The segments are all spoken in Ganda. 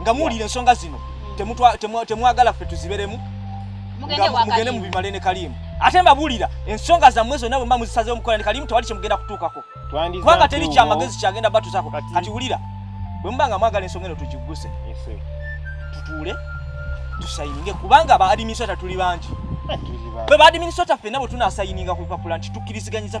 nga muwulira ensonga zino temwagala ffe tuziberemu mugende mubimale ne kalimu ate mbabulira ensonga zammwe zonna bwemba muzisazewo mukola ne kalimu tewali kyemugenda kutuukako kubanga teri kyamagezi kyagenda batuzako kati wulira bwemuba nga mwagala ensonga eno tugigguse tutuule tusayininge kubanga baadiminisota tuli bangi fe baadiminisota fenna bwe tunasayininga ku lupapula nti tukkiriziganyiza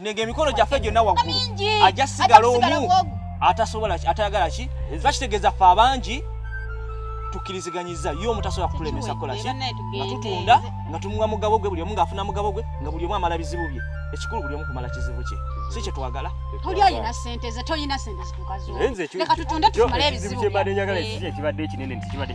nenge emikono gyaffe gyonna waggulu ajja sigala omu atasobola atayagala ki eza kitegeeza ffe abangi tukkiriziganyiza ye omu tasobola kutulemesa kukola ki nga tutunda nga tumuwa mugabo gwe buli omu ng'afuna mugabo gwe nga buli omu amala bizibu bye ekikulu buli omu kumala kizibu kye si kye twagala toli alina sente ze tolina sente zitukazo leka tutunde tutumale ebizibu ekibadde ekinene nti kibadde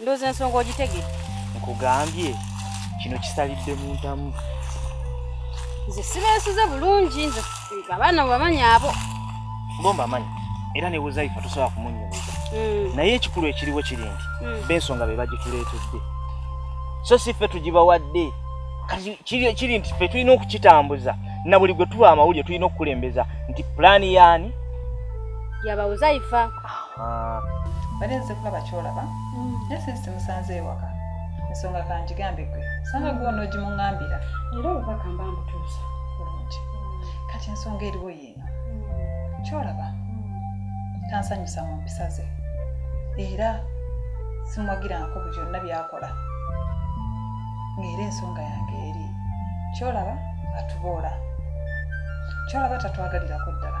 ndooza ensonga ogitegere nkugambye kino kisalidde mu ntamu nze sibeesize bulungi nze abaana bwebamanyi abo ngomba amanyi era nebuzaifa tosobola kumunyumiza hmm. naye ekikulu ekiriwo kiri nti hmm. bensonga be bagituleetedde so si ffe tugibawadde kati kiri nti ffe tulina okukitambuza na buli gwe tuba amawulire tulina okukulembeza nti pulaani yaani yabawuzaifa Ah. bali nze kulaba kyolaba mm. naye sinsi musanze ewaka ensonga kanjigambe gwe sanga gwe onogimungambira era obubaka mba mbutuusa bulungi kati ensonga eriwo yiino mm. kyolaba mm. tansanyusa mu mpisa ze era simwagirangako bu byonna byakola ngaera ensonga yange eri kyolaba atuboola kyolaba tatwagalirako ddala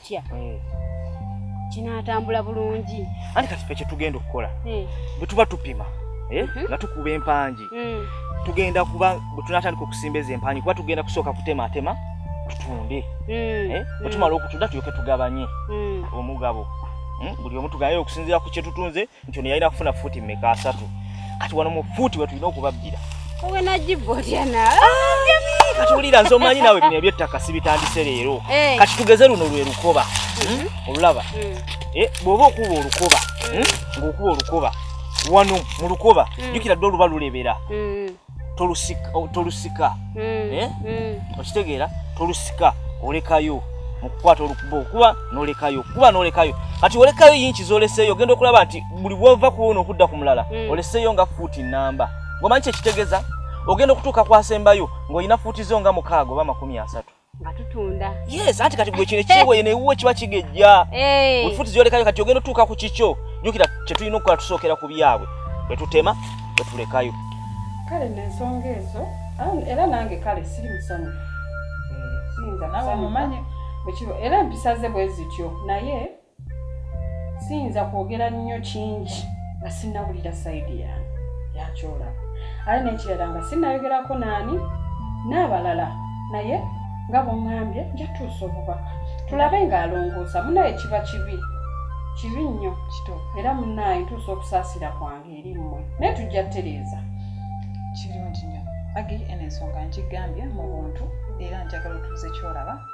kya eh. kinaatambula bulungi anti kati fe kyetugenda okukola eh. bwe tuba tupima eh, mhm. nga tukuba empangi mm. tugenda kuba bwe tunatandika okusimba ezo empangi kuba tugenda kusooka kutematema tutunde mm. eh, bwe mm. tumala okutunda tulyoke tugabanye mm. omugabo hmm, buli omu tugaye okusinziira ku kyetutunze nti ono yalina kufuna fuuti mmeka asatu kati wano mu fuuti wetulina okubabbira katuwulira nze omanyi nawe bino ebyettaka sibitandise leero eh. kati tugeze luno lwe lukoba hmm? Hmm? olulaba hmm. eh, bw'oba okuba olukoba ng'okuba olukoba wano mu lukoba jjukira dde oluba lulebera tolusika tolusika mm. eh? mm. okitegeera tolusika olekayo mukukwata olukuba okuba nolekayo kuba nolekayo kati olekayo yinki zoleseyo ogenda okulaba nti buli bwova kuwona okudda ku mulala mm. oleseyo nga fuuti namba ngomanyi kyekitegeza ogenda okutuuka kwasembayo ng'olina fuuti zo nga mukaaga oba makumi asatu nga tutunda yes anti kati gwe kino ekiweye newuwe kiba kigejja wefuti zyolekayo kati ogenda otuuka ku kikyo jukira kyetulina okukola tusookera ku byabwe bwetutema bwetulekayo kale nensonga ezo era nange kale siri musonyi eh, siyinza nawe mumanyi era empisa ze bwe zityo naye siyinza kwogera nnyo kingi nga sinnawulira sayidi yange yakyolaba ate nekirala nga sinnayogerako naani n'abalala naye nga bwongambye njatuusa obubaka tulabe ng'alongoosa munaye kiba kibi kibi nnyo era munaye ntuusa okusaasira kwange eri mmwe naye tujja tereeza kirungi nnyo agi eno ensonga nkigambye mu buntu era njagala otuuze kyolaba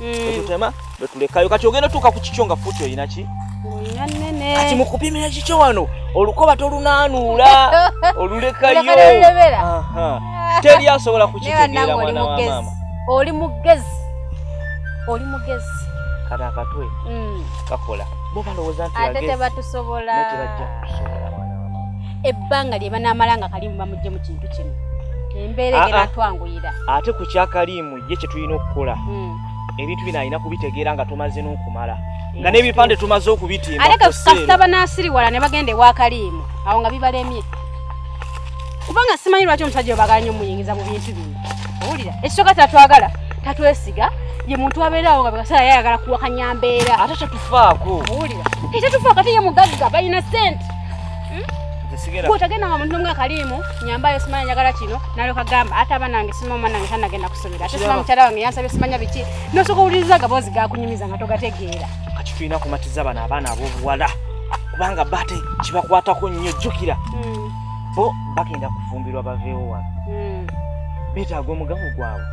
etutema mm. betulekayo kati ogenda tuuka ku kikyo nga futi olina ki kati mukupimira kikyo wano olukoba tolunanuula olulekayo teri asobola kukitegeera mwana wa maama oli mugezi oli mugezi kati akatwe mm. kakola bo balowooza nti ate tebatusobola tebajja kutusobola mwana wa maama ebbanga lye banaamala nga kalimu bamugye mu kintu kino embeera ah, ah. egenatwanguyira ate ku kyakaliimu ye kyetulina okukola hmm. ebintu bino alina kubitegeera nga tumaze n'okumala nga n'ebipande tumaze okubitimba aleka kasita banasiriwala ne bagenda ewa kaliimu awo nga bibalemye kubanga simanyi lwaki omusajja obagala nyo muyingiza mu bintu bino owulira ekisooka tatwagala tatwesiga ye muntu abeerawo nga bekaseera yayagala kuwakanya mbeera ate tetufaako owulira tetufaako ate ye mugagga balina sente kutagenda nga muntu nomwe akaliimu nyambayo simanya njagala kino nalyoka gamba ate aba nange simama nange tanagenda kusomera ate sima mukyala wange yansabye simanya biki nosooka owuliriza agaboozi gakunyumiza nga togategeera kati tulina kumatiza bano abaana ab'obuwala kubanga bate kibakwatako nnyo jjukira hmm. bo bagenda kufumbirwa baveewo wano hmm. beetaaga omugamu gwabwe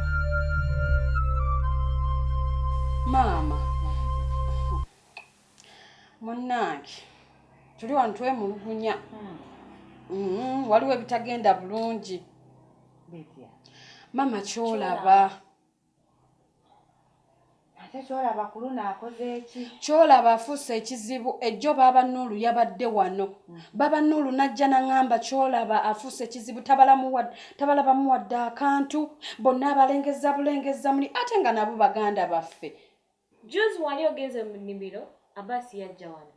maama munnange tuli wano twemulugunya hmm. mm-hmm. waliwo ebitagenda bulungi maama kyolaba kyolaba afuuse ekizibu ejjo baaba nuulu yabadde wano hmm. baba nuulu najja naŋamba kyolaba afuuse ekizibu tabalabamu wadde akantu bonna abalengeza bulengeza muli ate nga nabo baganda baffe Juzi wali ogenze mu nnimiro, Abbas yajja wano.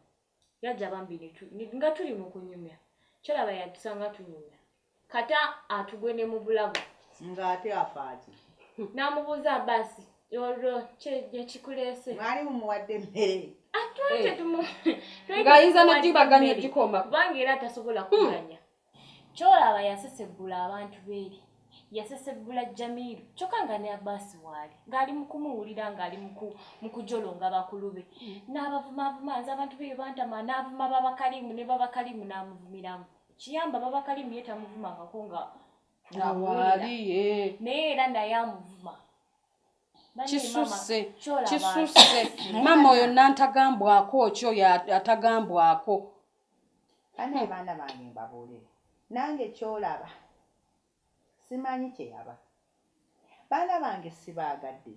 Yajja bambi ne tu, ne, nga tuli mu kunyumya. Kyolaba yatusanga tunyumya. Kata atugwe ne mu bulago. Nga ate afaaki? N'amubuuza Abbas, olwo kye gye kikuleese? Mwali mumuwadde mmere? Ate Eh. tetumuwa. Ng'ayinza n'ogibaganya ogikoma. Kubanga era tasobola kuganya. Kyolaba yasesebbula abantu beeri, yasesebbula Jamiru kyokka nga ne Abbas waali ng'ali mu kumuwulira ng'ali mu kujolonga bakulu be mm. n'abavumaavuma nze abantu beeyo bantama n'avuma babakalimu ne babakalimu n'amuvumiramu kiyamba babakalimu ye tamuvumangako nga ngawaali naye era naye amuvuma kisuse kisuse mama oyo nantagambwako ki oyo atagambwako Banaye baana bange mbabuulire nange kyolaba simanyi kyeyaba baana bange sibaagadde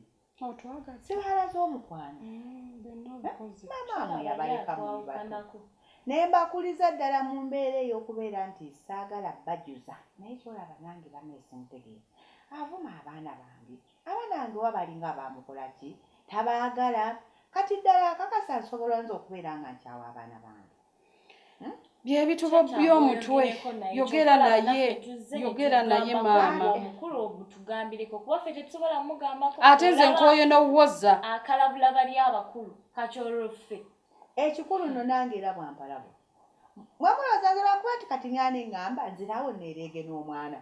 sibaalaze omukwano mamaamwe yabaleka mulibato naye mbakuliza ddala mu mbeera ey'okubeera nti saagala bajuza naye kyolaba nange banaye simutegeera avuma abaana bange Abanange oba balinga bamukola ki tabagala kati ddala akakasa nsobola nze okubeera nga nkyawa abaana bange hmm? byebitubobbi omutwe yogera naye yogera naye maama ate nze nkoye nowoza akalabula bali abakulu kakyoloffe ekikulu no nange era bwampalabo mwamuloza nze lwakuba ti kati ngani ngamba nzirawo nereege n'omwana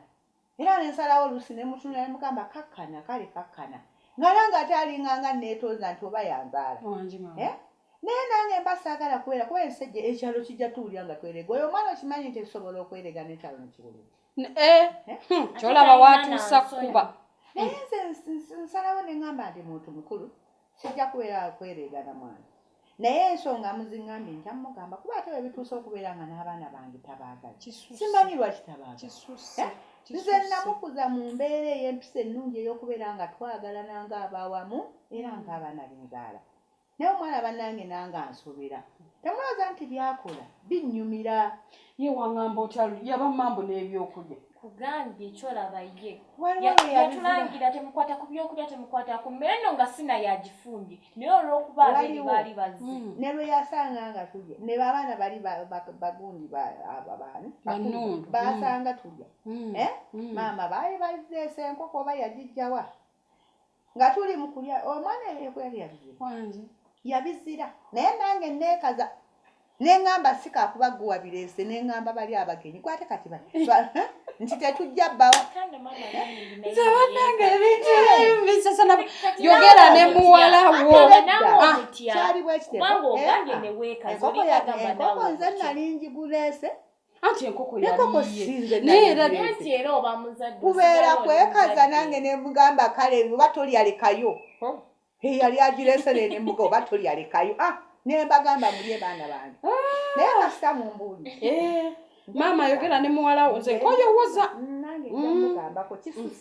Era ne nsalawo oluusi ne mmutunulira ne mugamba kakkana, kale kakkana. Nga nange ate alinga nga anneetooza nti oba yanzaala. Wangi maama. Eh? Naye nange mba saagala kubeera kuba ensi ejja, ekyalo kijja tuwulira nga twereega. Oyo omwana okimanyi nti ekisobola okwereega n'ekyalo ne kiwulira. N- Eh? Eh? Hmm, Ate kyolaba talina waatuusa n'ansonyi. kukuba. Naye nze ns- ns- nsalawo ne ŋŋamba ndi muntu mukulu. Sijja kubeera wa kwereegana mwana. Naye ensonga muzingambye nja mmugamba kuba ate bwe bituuse okubeera nga n'abaana bange tabaagala. Simanyi lwaki tabaagala. Nze namukuza mu mbeera ey'empisa ennungi ey'okubeera nga twagalana ng'abaawamu era mm. ng'abaana benzaala. Naye omwana bannange nange ansobera. Temulooza nti byakola binnyumira. Ye wangamba otya yabamambu n'ebyokulya. kugambye kyolaba ye yatulangira temukwata ku byokulya temukwata ku mmere no nga sina yagifumbye naye olwokuba abiri baali bazze mm. ne lwe yasanga nga tulya ne babaana bali bagundi ababaani mm. basanga tulya mm. Eh? maama baali bazeesa enkoko oba yagijjawa nga tuli mu kulya omwana ebyokuyabyabye kwange yabizira naye nange neekaza ne ŋŋamba si kaakuba gwe wabireese ne ŋŋamba bali abagenyi gwate kati ba nti tetujja bbawa yogera ne muwala wokyali bwekiteekoko nze nali njiguleese anti enkoko yaliyenanti era oba muzadde kubeera kwekaza nange nemugamba kale oba tolyalekayo oh. eyali agiresere nemuga oba tolyalekayo ah, nembagamba mulye baana bange ah. naye kasita mumbuuli eh. maama ayogera ne muwala wo nze nkoyowoza mm, nange mm. mugambako kisusa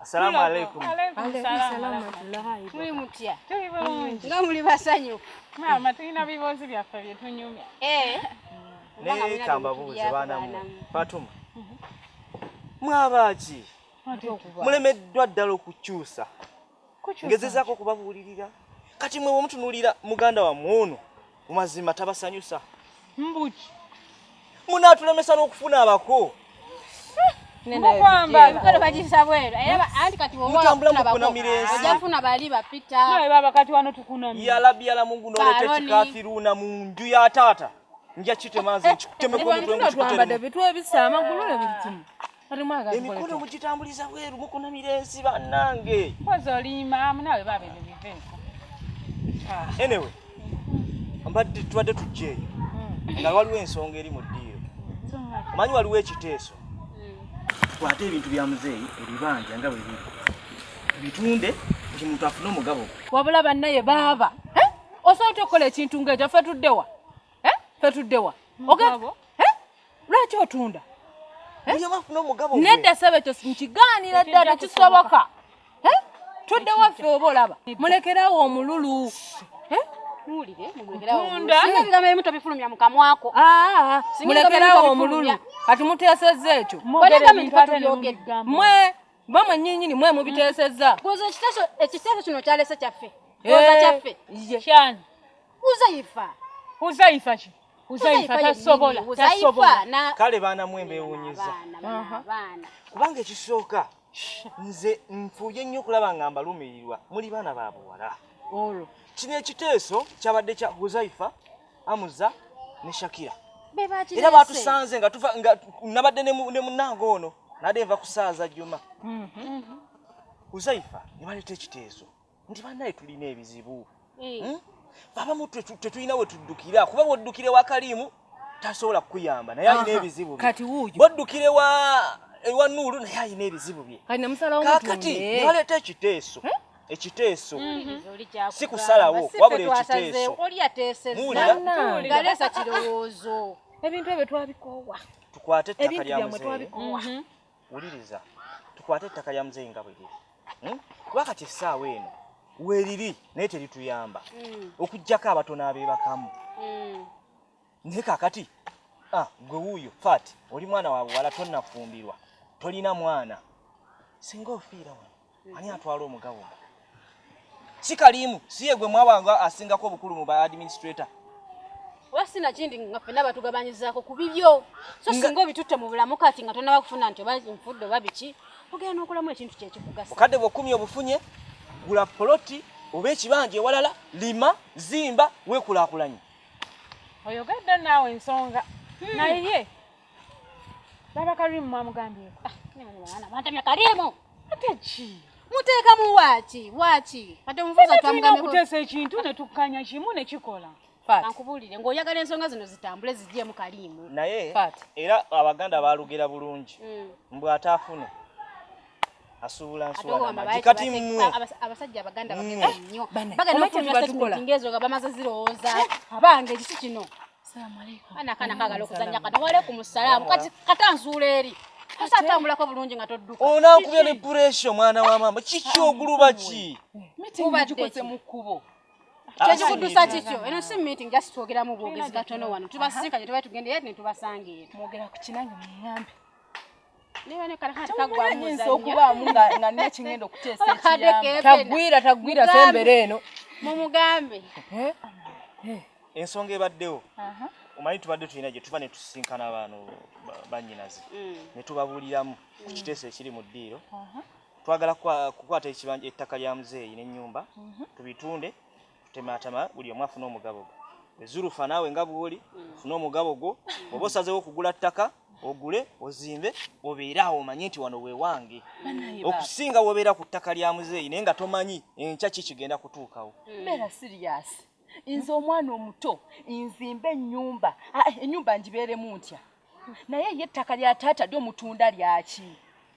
Assalamu alaikum. Muli mutya? Tuli bulungi. Nga muli basanyufu. Maama tulina biboozi byaffe bye tunyumya. Eh. Naye kambabuuze baana mmwe. Fatuma. Mwabaaki? Mulemeddwa ddala okukyusa. ngezezaako okubabuulirira kati mwe wemutunuulira muganda wamwe ono mu mazima tabasanyusa mbuki munaatulemesa n'okufuna abako yalabyala mungu noleta ekikafiruna mu nju ya taata nja kitemazi kikutemekobitu ebisa amagulu ne buli kimu emikono mugitambuliza bweru mukunamira ensi bannange enewe mbadde tubadde tujja eyo hmm. nga waliwo ensonga eri mu ddiiro omanyi waliwo ekiteeso tukwate ebintu bya muzeeyi ebibanja nga bwebiri bitunde nti muntu afune omugabo wabula bannaye baaba eh? osobola tokukola ekintu ngaekyo fe tuddewa eh? fe tuddewa lwaki otunda eh? nedda sebe ekyo nkigaanira dda tekisoboka eh? tudde waffe oba olaba mulekerawo omululu eh? mulekerawo omululu kati muteesezza ekyo mwe mwe mwenyinyini mwe mubiteesezza ekiteeso kino kyalese kyaffe kyaffe Huzaifa. Huzaifa ki? Huzaifa tasobola, tasobola. Na... Kale baana mwe mbewunyiza. Baana. Kubanga ekisooka nze nfuye nnyo kulaba nga mbalumirirwa muli baana ba buwala. Olwo. Kino ekiteeso kyabadde kya Huzaifa, Amuza ne Shakira. Era batusanze nga tuva nga nabadde ne munange ono nade nva kusaaza Juma. Mhm. Huzaifa ne baleeta ekiteeso. nti banaye tulina ebizibu eh. hmm? abamu tetulina wetuddukira kuba bwoddukire wa kaliimu tasobola kukuyamba naye alina ebizibu bwoddukire wa ewa nuulu naye alina ebizibu bye kakati naleeta ekiteeso eh? ekiteeso mhm. si kusalawo wabula ekiteeso muwuliragaleesa kirowoozo ebintu ebyo twabikoowa tukwate ettaka lya muzeeyi Wuliriza, tukwate ettaka lya muzeeyi nga bwe liri hmm? kuba kati essaawa eno weeriri naye terituyamba hmm. okuggyako abatono abeebakamu hmm. naye kakati ah, gwe wuuyo fat oli mwana wa buwala tonnafumbirwa tolina mwana singa ofiira wano ani atwala omugabo si kalimu si ye gwe mwabanga asingako obukulu mu ba administrator oba sinakindi nga fena batugabanyizaako ku bibyo so singa obitutte mu bulamu kati nga tonaba kufuna nti oba nfudde oba biki ogenda n'okolamu ekintu kyekikugasa bukadde bwokumya obufunye gula poloti oba ekibanja ewalala lima zimba wekulakulanye oyogedde naawe ensonga hmm. naye Baba Karimu mwamugambyeko? Ah, mwana mwantamya Karimu. Ate ki? Muteekamu waaki waaki ate omuvuza twamugambyeko. Okuteesa ekintu ne tukkanya kimu ne kikola. Ankubuulire ng'oyagala ensonga zino zitambule zigyemu Karimu. Naye era Abaganda baalugera bulungi mm. mbu ataafune asuubula nsuula kati mmwe abasajja abaganda bagenda nnyo bagenda okufuna statement ngezo nga bamaze zirowooza abange ekisi kino anakana kagala okuzanya kano walaikum salaamu kati kata nzuula eri kasatambulako bulungi nga todduka onankubya ne puresha omwana wa maama kiki oguluba ki mitingikoze mu kkubo ah, kyekikudusa kikyo eno si meeting just twogeramu bwogezi gatono wano tubasinkanye tubae tugende yet netubasanga eno mwogera ku kinange munyambe nyinza okubaamu nga nina kingenda okuteesa ekiyambotagwira tagwira sembere eno mumugambe eh? Eh. ensonga ebaddewo omanyi tubadde tulina gye tuba ne tusisinkana abaano banyinazi mm. ne tubabuuliramu ku mm. kiteeso ekiri mu ddiiro twagala kukwata ettaka lya muzeeyi n'ennyumba mhm. tubitunde Tutematama buli omu afuna omugabo gwe. Ezulufa naawe nga bwoli funa omugabo gwo oba osazeewo okugula ttaka ogule ozimbe obeere awo omanye nti wano wewange okusinga wobeera ku ttaka lya muzeeyi naye nga tomanyi enkya ki kigenda kutuukawo. Mbeera siriyasi nze omwana omuto nzimbe ennyumba ennyumba ngibeeremu ntya? naye ye ettaka lya taata lyo mutunda lyaki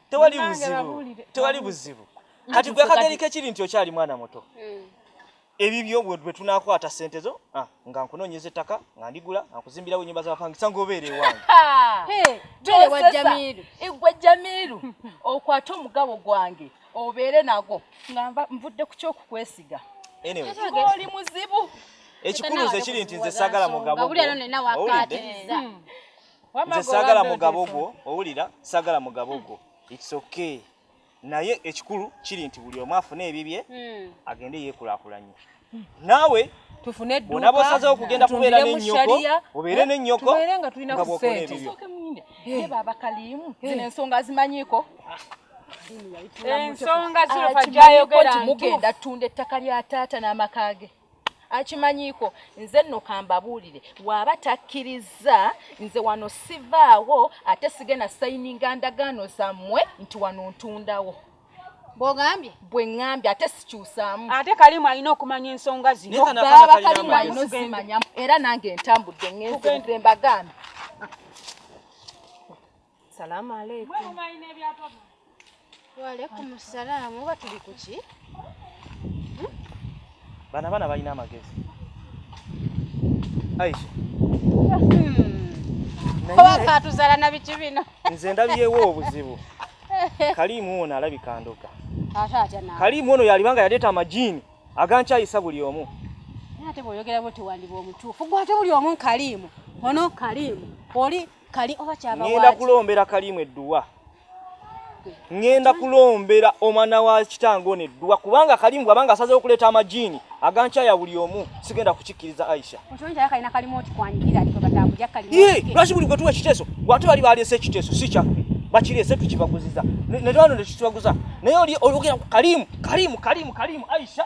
tewali buzibu tewali buzibu kati gwe akageri kekiri nti okyali mwana muto hmm. ebibyo bwe tunakwata sente zo ah, nga nkunoonyeza ettaka nga ndigula nga nkuzimbirawo ennyumba z'abapangisa ng'obeera ewange egwe jamiiru okwate omugabo gwange obeere nago nga nvudde ku kyokukwesiga oli muzibu ekikulu nze kiri nti nze sagala mugabo hmm. nze sagala mugabo gwo owulira sagala mugabo gwo its okay naye ekikulu kiri nti buli omu afune ebibye hmm. agende yekulakulanye naawe tufune edduuka bona bosaze okugenda kubeera ne nnyoko obeere ne nnyoko tubeere nga tulina ku sente ye baba kalimu eh. zino ensonga zimanyiko ensonga zino fajayogera nti mugenda tunda ettaka lya taata n'amaka ge akimanyiiko nze nno kambabuulire waaba takkirizza nze wano sivaawo ate sigenda sayininga ndagaano zammwe nti wano ntundawo bwogambye bwe ŋŋambye ate sikyusaamu ate kalimu alina okumanya ensonga zinobaaba kalimu alina ozimanyamu era nange ntambudde ŋenze mbagambye salaamu aleikum waalaikum salaamu oba tuli kuki Bana bana balina amagezi. Aisha. Oba katuzala na biki bino. Nze ndabiyewo obuzibu. Kalimu ono alabika ndoka. Ate atya na. Kalimu ono yalibanga yaleta amajini agankyayisa buli omu. Ate bwoyogera bwoti wandiba omutuufu. Gwe ate buli omu Kalimu. Ono Kalimu. Oli kali oba kyaba wali ngenda kulombera kalimu edduwa ngenda kulombera omwana wa kitange ono edduwa kubanga kalimu bwabanga asazewo okuleeta amajiini agankyaya buli omu sigenda kukikkiriza aisha lwaki buli gwetuwa ekiteeso gwate bali baleese ekiteeso si kyaffe bakireese tukibaguziza netwano nekitubaguza naye oli olugera kalimu kalimu kalimu kalimu aisha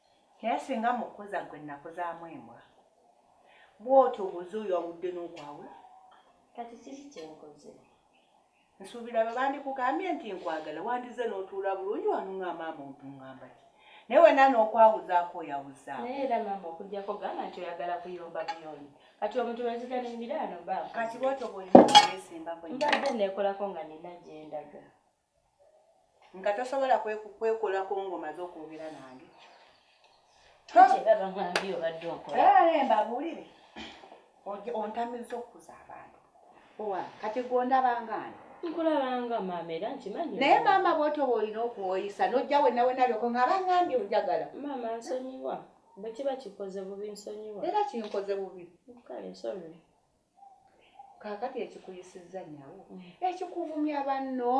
Naye singa mukuza gwe nakuzamu embwa bwotyo obuze oyo awudde nokwawe kati kiki kyenkoze nsuubira bwe bandikugambye nti nkwagala wandize notuula bulungi wanunga maama otungamba ki naye wena nokwawuzaako oyawuza naye era maama okujjako gamba nti oyagala kuyomba buyoni kati omuntu lweziga nemiraano ba kati bwotyo bwolina okwesimbako mbadde nekolako nga nina gyendaga nga tosobola kwekolako ngomaze okwogera nange mbabuulire ontamiza okukuza abantu owa kati gondabangani nkulabanga maama era nkimanyi naye maama bwotoba olina okuwoyisa nojja wenawenalyoko nga bangambye onjagala maama nsonyiwa bwekiba kikoze bubi nsonyiwa era kinkoze bubi kale sorry kakati ekikuyisizza nyawo ekikuvumya banno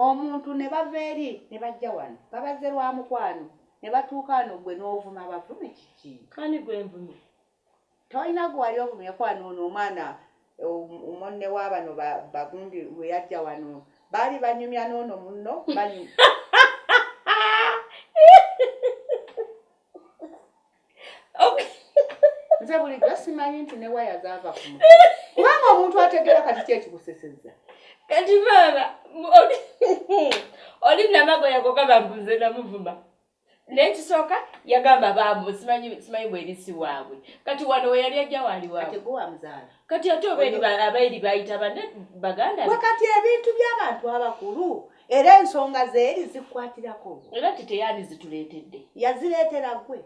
omuntu ne bava eri ne bajja wano nga bazze lwa mukwano ne batuuka wano gwe n'ovuma bavume kiki kani gwe nvumye tolina gwe wali ovumye kwano ono omwana omonne wa bano bagundi we yajja wano baali banyumya n'ono munno banyumya nze bulijjo simanyi nti ne waya zaava ku mutwe kubanga omuntu ategeera kati ki ekikuseseza kati maama oli namagoya goga bambuze namuvuma nekisooka yagamba bambu simanyi bwerisi waabwe kati wano weyali ajja waali waabwewamuzaala kati ate oba abairi bayita bane baganda kati ebintu by'abantu abakulu era ensonga zeeri zikukwatirako era nti teyandi zituleetedde yazireetera gwe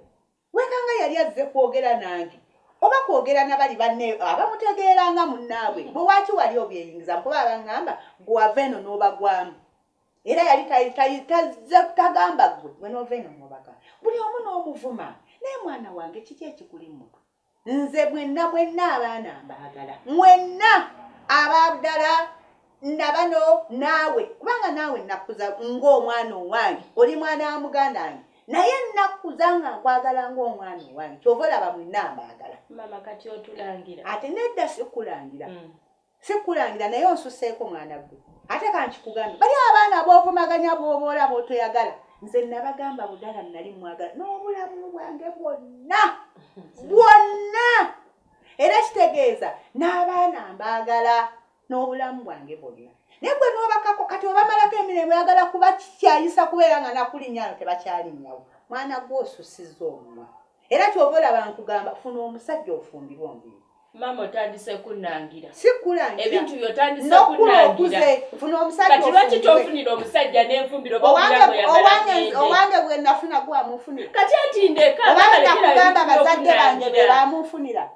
wekanga yali azze kwogera nange oba kwogera nabali banne abamutegeera nga munnaabwe bwe waaki wali obyeyingiza nkuba abaŋŋamba gwava eno n'obagwamu era yali tazze kutagamba gwe gwe n'ova eno n'obagamba buli omu n'omuvuma naye mwana wange kiki ekikuli mutu Nze mwenna mwenna abaana mbaagala. Mwenna aba Abdala nabano naawe kubanga naawe nakkuza ng'omwana owange oli mwana wa muganda wange naye nakkuza nga nkwagala ng'omwana owange kyova olaba mwenna mbaagala. Mama kati otulangira. Ate nedda sikulangira. Mm. Sikulangira naye onsuseeko mwana gwe. Ate kankikugambe bali abaana bovumaganya bwoboola botoyagala nze nabagamba budala nali mwagala nobulamu bwange bwonna bwonna era kitegeeza n'abaana mbaagala n'obulamu bwange bwonna naye gwe nobakako kati obamalako emirembo yagala kuba kikyayisa kubeera nga nakulinyano tebakyalinyawo mwana gwe osusiza omumwa Era kyova olaba nkugamba funa omusajja ofumbirwe ombiri. Mama otandise kunangira. Si kulangira. Ebintu byo otandise no kunangira. Funa omusajja ofumbirwe. Kati lwaki tofunira omusajja n'enfumbiro bo kulabo ya balanyende. Owange bwe nafuna gwa mufunira. Kati ati ndeka. Owange nakugamba bazadde bange be bamufunira.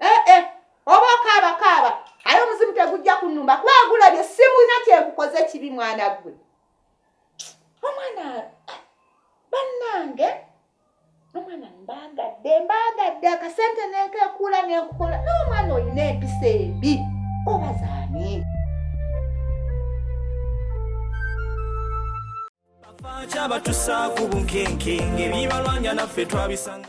eh, eh. oba okaaba kaaba aye omuzimu tegujja kunumba kuba agulabye simulina kyenkukoze ekibi mwana gwe omwana eh, bannange omwana mbagadde mbagadde akasente nenkekuula nenkukola n'omwana olina empisa ebi obazaani kyabatusaku bunkenke ngebibalwanya naffe twabisanga